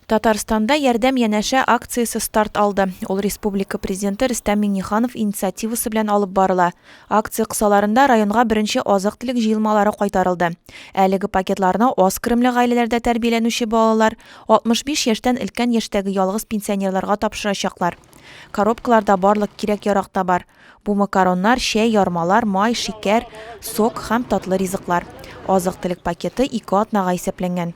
Татарстанда Ярдәм янәшә акциясе старт алды. Ул республика Президенты Рөстәм Миңнеханов инициативасы белән алып барыла. Акция кысаларында районга беренче азык-төлек җыелмалары кайтарылды. Әлеге пакетларны аз керемле гаиләләрдә тәрбияләнүче балалар, 65 яшьтән өлкән яшьтәге ялгыз пенсионерларга тапшырачаклар. Коробкаларда барлык кирәк-ярак та бар. Бу макароннар, чәй, ярмалар, май, шикәр, сок һәм татлы ризыклар. Азык-төлек пакеты ике атнага исәпләнгән.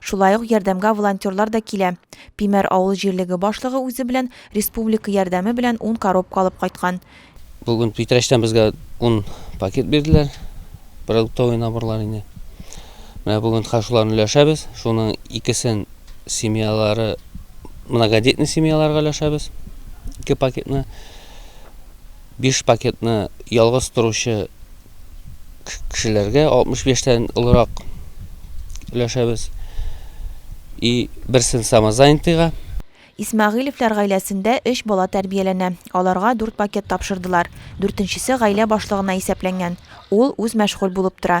Шулай ук ярдәмгә волонтерлар да килә. Пимәр авыл җирлеге башлыгы үзе белән республика ярдәме белән ун коробка алып кайткан. Бүген Питрәчтән безгә ун пакет бирделәр, продуктовый наборлар инде. Менә бүген хәзер шуларны өләшәбез. Шуның икесен семьялары, многодетный семьяларга өләшәбез, ике пакетны. Биш пакетны ялгыз торучы кешеләргә 65 тән олырак өләшәбез. И берсен самозанятыйга. Исмәгыйлевләр гаиләсендә өч бала тәрбияләнә. Аларга дүрт пакет тапшырдылар. Дүртенчесе гаилә башлыгына исәпләнгән. Ул үз мәшгуль булып тора.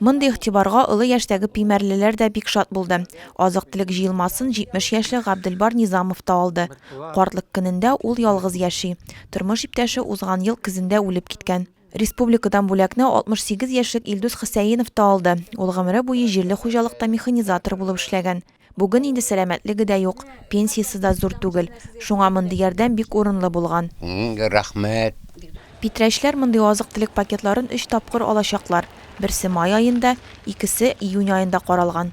Мондый игътибарга олы яшьтәге пимәрлеләр дә бик шат булды. Азык-төлек җыелмасын 70 яшьлек Габделбар Низамов та алды. Картлык көнендә ул ялгыз яши. Тормыш иптәше узган ел көзендә үлеп киткән. Республикадан бүләкне 68 яшьлек Илдус Хөсәенов та алды. Ул гомере буе җирле хуҗалыкта механизатор булып эшләгән. Бүген инде сәламәтлеге дә юк, пенсиясе дә зур түгел. Шуңа мондый ярдәм бик урынлы булган. Мең рәхмәт! Питрәчләр мондый азык-төлек пакетларын өч тапкыр алачаклар, берсе май аенда, икесе июнь аенда каралган.